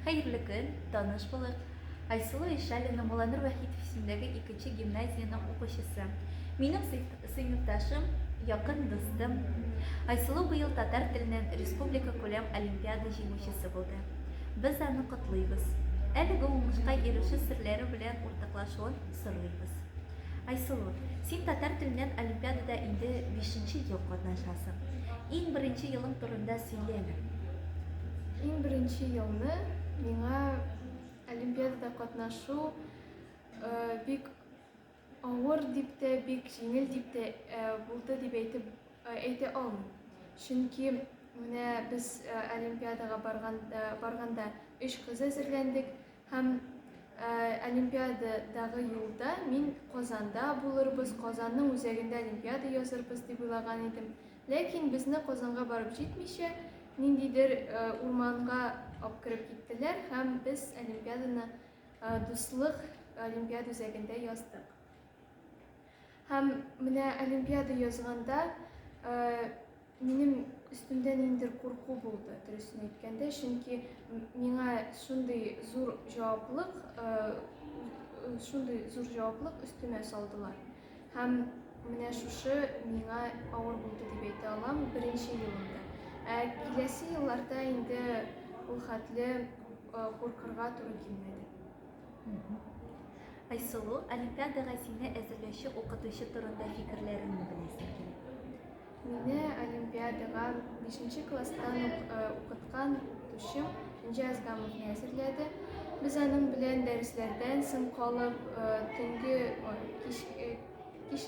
Хәерле көн, таныш булыйк. Айсылу Ишалина, Муланур Вәхитов исемендәге икенче гимназиянең укучысы. Минем сыйныфташым, якын дустым. Айсылу быел татар теленнән республикакүләм олимпиада җиңүчесе булды. Без аны котлыйбыз. Әлеге уңышка ирешү серләре белән уртаклашуын сорыйбыз. Айсылу, син татар теленнән олимпиадада инде бишенче ел катнашасың. Иң беренче елың турында сөйле әле. Иң беренче елны миңа олимпиадада катнашу бик авыр дип тә, бик җиңел дип тә булды дип әйтеп әйтә алмыйм. Чөнки менә без олимпиадага барганда өч кыз әзерләндек, Һәм Олимпиададагы юлда мин Казанда булырбыз, Казанның үзәгендә Олимпиада язырбыз дип уйлаган идем. Ләкин безне Казанга барып җитмичә, ниндидер урманга ап кереп киттеләр һәм без Олимпиаданы Дуслык Олимпиада үзәгендә яздык. Һәм менә Олимпиада язганда Минем өстемдә ниндидер курку булды, дөресен әйткәндә, чөнки миңа шундый зур җаваплык, э, шундый зур җаваплык өстемә салдылар. Һәм менә шушы миңа авыр булды дип әйтә алам беренче елымда. Ә киләсе елларда инде ул хәтле э, куркырга туры килмәде. Айсылу, олимпиадага сине әзерләүче укытучы турында фикерләреңне беләсем килә. Мине олимпиадага бишенче класстан ук укыткан укытучым Энҗе Азгамовна әзерләде. Без аның белән дәресләрдән соң калып, төнге кич, кич,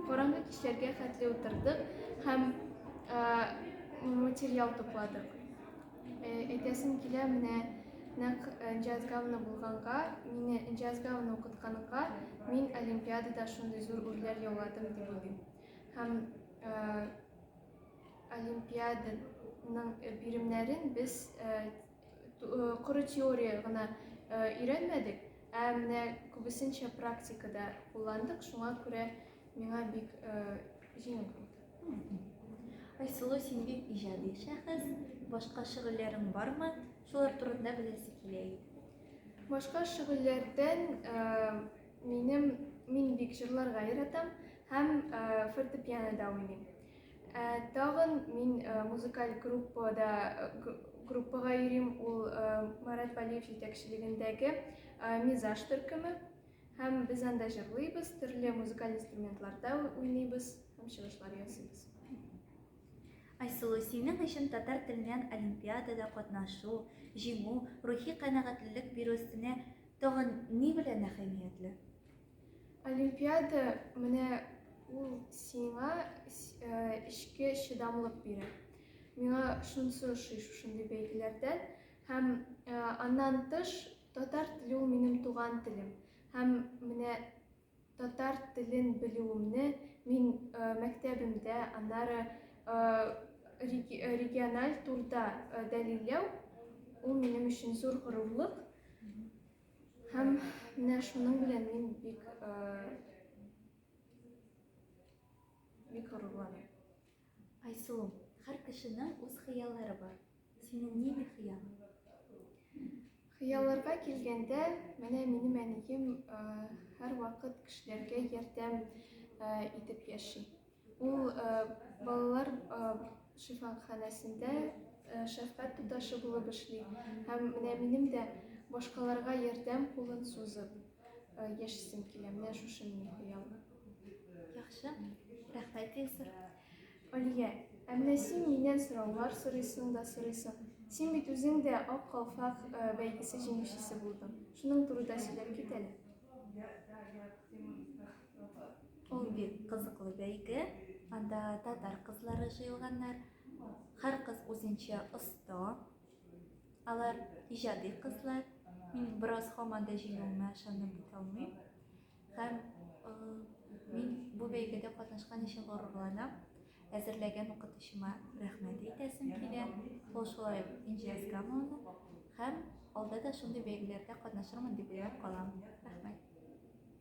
караңгы кичләргә хәтле утырдык һәм материал тупладык. Әйтәсем килә менә нәкъ Энҗе Азгамовна булганга, мине Энҗе Азгамовна укытканга, мин олимпиадада шундый зур үрләр яуладым дип уйлыйм. Һәм олимпиаданың биремнәрен без коры теория гына өйрәнмәдек, ә менә күбесенчә практикада кулландык, шуңа күрә миңа бик җиңел булды. Айсылу, син бик иҗади шәхес, башка шөгыльләрең бармы? Шулар турында беләсе килә иде. Башка шөгыльләрдән Минем мин бик җырларга яратам һәм фортепианода уйныйм. Ә тагын мин музыкаль группада группага йөрим, ул Марат Валиев җитәкчелегендәге Мизаж төркеме һәм без анда җырлыйбыз, төрле музыкаль инструментларда уйныйбыз һәм чыгышлар ясыйбыз. Айсылу, синең өчен татар теленнән олимпиадада катнашу, җиңү, рухи канәгатьлелек бирү өстенә Тагын ни белән әһәмиятле? Олимпиада менә ул сиңа эчке чыдамлык бирә. Миңа шунысы ошый шушындый бәйгеләрдән. Һәм аннан тыш татар теле ул минем туган телем. Һәм менә Татар телен белүемне мин мәктәбемдә, аннары региональ турда дәлилләү, ул минем өчен зур горурлык. Һәм менә шуның белән мин бик бик горурланам. Айсылу, хәр кешенең үз хыяллары бар. Синең нинди хыялың? Хыялларга килгәндә, менә минем әнием э, һәрвакыт кешеләргә ярдәм э, итеп яши. Ул э, балалар шифаханәсендә шәфкать туташы булып эшли. Һәм менә минем дә башкаларга ярдәм кулын сузып яшисем килә. Менә шушы минем хыялым. Яхшы, рәхмәт, Илсур. Алия, әмма син миннән сораулар сорыйсың да сорыйсың. Син бит үзең дә Ак калфак э, бәйгесе җиңүчесе булдың. Шуның турында сөйләп кит әле. Ул бик кызыклы бәйге. Анда татар кызлары җыелганнар. Һәр кыз үзенчә оста. Алар иҗади кызлар. Мин бераз һаман да җиңүемә ышанып бетә алмыйм. Һәм мин бу бәйгедә катнашкан өчен горурланам. Әзерләгән укытучыма рәхмәт әйтәсем килә. Ул шулай Инҗе Әскамовна һәм алда да шундый бәйгеләрдә катнашырмын дип уйлап калам. Рәхмәт.